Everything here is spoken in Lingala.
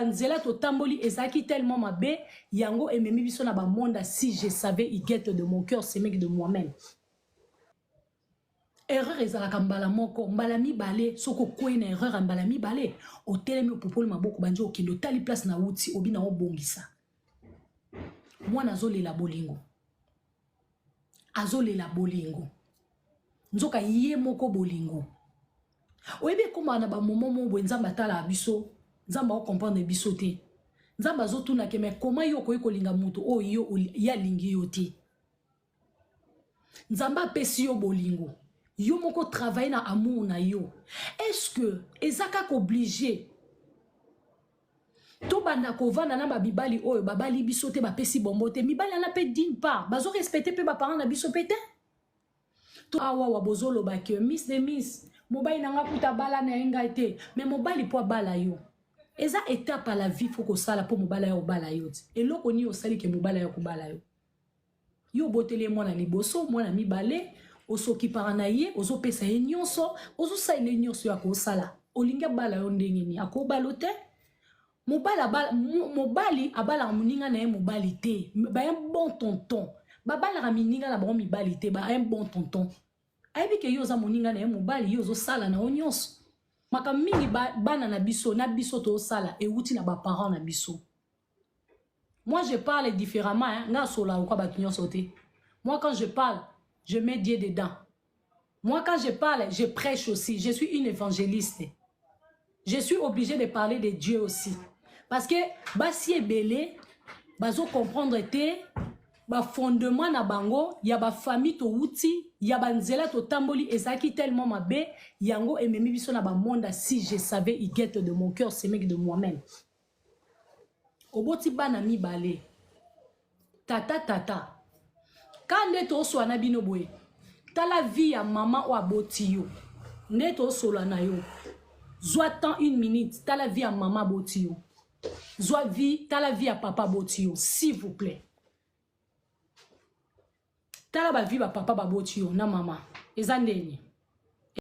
nzela totamboli ezalaki tellement mabe yango ememi biso na bamonda si je savais igete de mon cœur semeki de moi-même erreur ezalaka mbala moko mbala mibale soki okwei na erreur ya mbala mibale otelemi opupoli maboko bandi okende otali place na wuti obi na obongisa mwana azolela bolingo azolela bolingo nzoka ye moko bolingo oyebi ekomaka na bamomo moko boye nzambe atalaka biso nzambe akokomprendre biso te nzambe azotuna ke mai koma yo okoki kolinga moto oyo oh, yo ye alingi yo te nzambe apesi yo bolingo yo moko travaille na amour na yo est ce que eza kaka oblige tobanda kovanda na babibali oyo babali biso te bapesi bombo te mibali wana mpe dine part bazo respecte mpe baparent na biso mpe te to awawa bozoloba ke miss de miss mobali na nga kuta bala na ye ngai te me mobali mpo abala yo eza etape ya la vie fo kosala mpo mobali ya kobala yo te eloko nini osali ke mobali ya kobala yo yo oboteli ye mwana liboso mwana mibale osokipaka na ye ozopesa ye nyonso ozosalela ye nyonso ya kosala olingi abala yo ndenge nini akobalo te mobali abala, mobali abalaka moninga na ye mobali te baye bon tonton babalaka mininga na bango mibali te baye bon tonton ayebi ke yo oza moninga na ye mobali yo ozosala na yo nyonso makambo mingi bana na biso na biso tosala ewuti na baparent na biso Moi, je parle différemment. Hein. Nga sola ou quoi bakinyon sauté. Moi, quand je parle, je mets Dieu dedans. Moi, quand je parle, je prêche aussi. Je suis une évangéliste. Je suis obligée de parler de Dieu aussi. Parce que, bah, si est belé, bah, comprendre était, ba fondement na bango ya ba famille to wuti ya ba nzela to tamboli ezaki tellement mabe yango ememi biso na ba monde si je savais il guette de mon cœur c'est mec de moi-même oboti bana mibale tata tata ka nde toswana bino boye tala vie ya mama oyo aboti yo nde tosola na yo zwa temps une minute tala vie ya mama aboti yo zwa vie tala vie ya papa aboti yo s'il vous plaît tala bavie bapapa baboti yo na mama eza ndenge